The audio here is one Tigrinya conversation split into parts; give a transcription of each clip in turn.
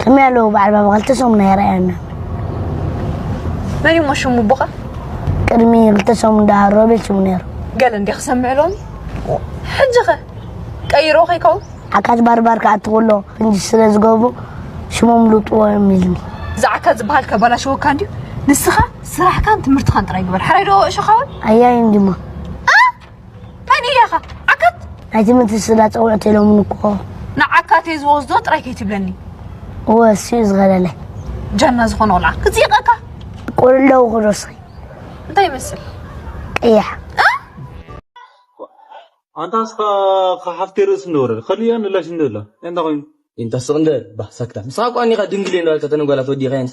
ከመይ ኣለዉ በዓል ባባ ክልተ ሰሙን ኣይረኣየናን መን እዩሞ ሽሙ ቦኻ ቅድሚ ክልተ ሰሙን ደኣ ሮቤል ሽሙ ነይሩ ገለ እንዲ ክሰምዕ ሎሚ ሕጂ ኸ ቀይሮ ከይከውን ዓካት ባርባር ክኣቲ ከሎ ክንዲ ስለ ዝገብሩ ሽሞም ልውጥዎ እዮም ኢልኒ እዚ ዓካት ዝበሃል ከባላሸወካ እንድዩ ንስኻ ስራሕካን ትምህርትኻን ጥራይ ግበር ሓራይ ዶ እሸኻውን ኣያይ እንዲሞ መን እያኻ ዓካት ናይ ትምህርቲ ስላ ፀውዕት ኢሎምን እኮ ንዓካት እየ ዝወስዶ ጥራይ ከይትብለኒ እወ እሱዩ ዝኸለለ ጀና ዝኾነ ቆልዓ ክፅይቐካ ቁልለው ክዶስኺ እንታይ ይመስል ቀያሕ ኣንታ ንስኻ ሓፍቲ ርእሲ እንደወረደ ከሊያ ንላሽ እንደላ እንታይ ኮይኑ እንታ ስቕ እንደ ባህ ሳክታ ንስኻ እኮ ኣኒኻ ድንግል እየ እንዳበልካ ተነጓላት ወዲኻየንስ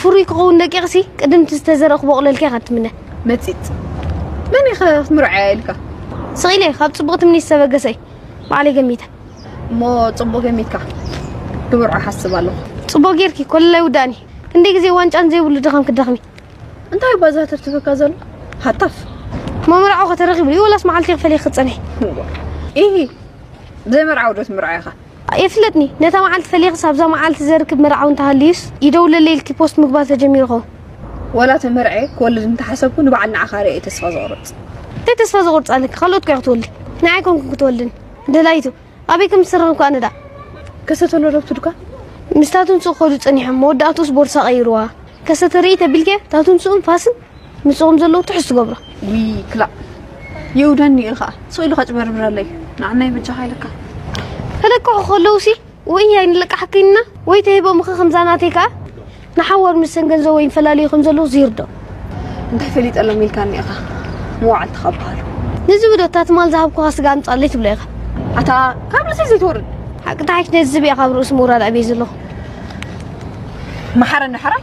ፍሩይ ክኸውን ደቂቕሲ ቅድም እቲ ዝተዘርእ ክቦቕለልኪ ኢኻ እትምነ። መጺጽ መን ኢኺ ክትምርዓያ ኢልካ? ስቕ ኢለ ካብ ጽቡቕ ትምኒት ዝተበገሰ'ዩ። ባዕለይ ገሚተ። እሞ ጽቡቕ ገሚትካ። ክምርዖ ሓስብ ኣለኹ። ጽቡቕ ጌርኪ፣ ኮለል ኣይውዳእን'ዩ። ክንደይ ግዜ ዋንጫን ዘይብሉ ድኻም ክትደኽሚ። እንታይ እባ ዘህተፍትፈካ ዘሎ? ሃታፍ! እሞ መርዓው'ኸ ተረኺቡ'ዩ ወላስ መዓልቲ ክፈልየ ክትጸንሒ? ኢሂ! ዘይመርዓው'ዶ ትምርዓይ'ኻ? የፍለጥኒ ነታ መዓልቲ ፈሊኽስ ኣብዛ መዓልቲ ዘርክብ መርዓዊ እንተሃልዩስ ይደውለለይ ኢልኪ ፖስት ምግባር ተጀሚሩ ኸው። ዋላ ተመርዕየ ክወልድ እንተሓሰብኩ ንበዓል ንዓኻ ሪኤ ተስፋ ዝቑርፅ። እንታይ ተስፋ ዘቑርፅ ኣለኪ ካልኦት እኮ እያ ክትወልድ ንዓይ ኣይኮንኩን ክትወልድኒ ደላይቱ ኣበይ ከም ዝስራን እኳ ንዳ። ከሰተሎ ዶ ትድኳ? ምስ ታቱንስኡ ክኸዱ ጸኒሖም መወዳእትኡስ ቦርሳ ቀይሩዋ። ከሰተ ርእይ ተቢልኪ ታቱንስኡን ፋስን ምስኦም ዘለዉ ትሕዝ ትገብሮ ውይ ክላእ የውደኒ እዩ ከዓ ሰው ኢሉ ከጭበርብረለይ ንዓናይ በጃኻ ኢለካ ተለቅሑ ከለዉ ሲ ወይ ኣይንለቃሕክንና ወይ ተሂቦም ኸ ከምዛ ናተይ ከዓ ንሓዋር ምስ ሰን ገንዘብ ወይ ንፈላለዩ ከም ዘለዉ ዝይርዶ እንታይ ፈሊጠሎም ኢልካኒ ኢኻ መዋዕልቲ ካብ በሃሉ ነዚ ብዶ እታ ትማል ዝሃብኩኻ ስጋ ኣምፃለይ ትብሎ ኢኻ ኣታ ካብ ርእሰይ ዘይትወርድ ሓቂ ተሓይሽ ነዚ ዝብያ ካብ ርእሱ ምውራድ ዕብየ ዘለኹ መሓረኒ ሕራይ